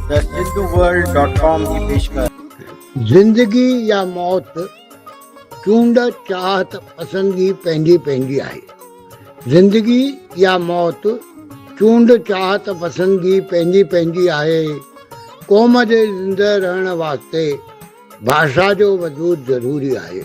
thehinduworld.com جي پيشڪش زندگي يا موت چونڊ چاهت پسندگي پنهنجي پنهنجي آهي زندگي يا موت چونڊ چاهت پسندگي پنهنجي پنهنجي آهي قوم جي زندهه رهڻ واسطي ڀاشا جو وجود ضروري آهي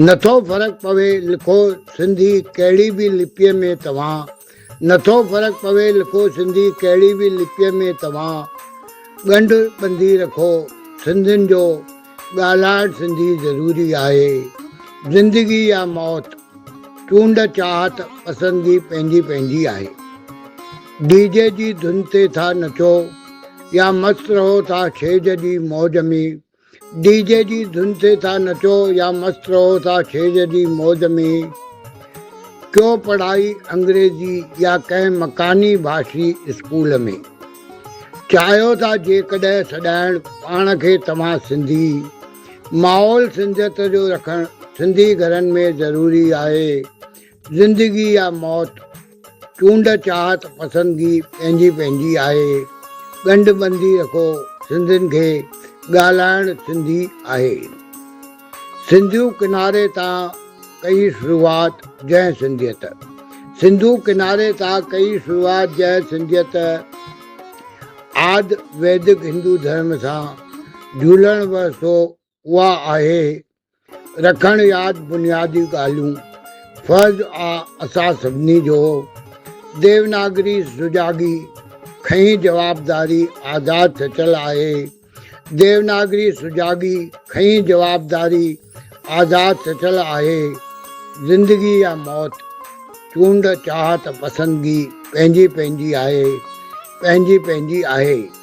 نٿو فرق پوي لکو سنڌي ڪهڙي به لپيء ۾ توهان نٿو فرق پوي لکو سنڌي ڪهڙي به لپيء ۾ توهان ڳنڍ ٻنڌي رکو سنڌين جو ڳالهائڻ سنڌي ضروري آهي زندگي يا موت چونڊ چاهت پسندگي پنهنجي پنهنجي آهي ڊي جي جي ڌن تي ٿا نچو يا مست رهو ٿا ڇيج جي موج ۾ ڊي جي جي ڌن تي ٿا نچو يا مست رهو ٿا ڇيڄ جي موج ۾، ڪيو پڙهائي انگريزي يا ڪنهن مڪاني ڀاشي اسڪول ۾، چاهيو ٿا جيڪڏهن سڏائڻ پاڻ کي توهان سنڌي، ماحول سنڌيت جو رکڻ سنڌي گهرن ۾ ضروري آهي، زندگي يا موت، چونڊ چاهت پسندگي پنهنجي پنهنجي آهي، ڳنڍ ٻنڌي رکو سنڌين کي، ڳالهائڻ سنڌي آهي. سنڌو ڪناري تان ڪئي شروعات جنهن سنڌيت. سنڌو ڪناري تان ڪئي شروعات جنهن سنڌيت، آد ويدڪ هندو ڌرم سان جهولڻ وهه سو اها آهي رکڻ ياد بنيادي ڳالهيون فرض آ اسان سڀني جو ديوناگري سجاڳي کئين جوابداري آزاد سچل آهي ديوناگري سجاڳي کئين جوابداري آزاد سچل آهي زندگي يا موت چونڊ چاهت پسندگي پنهنجي پنهنجي آهي پنهنجي پنهنجي آهي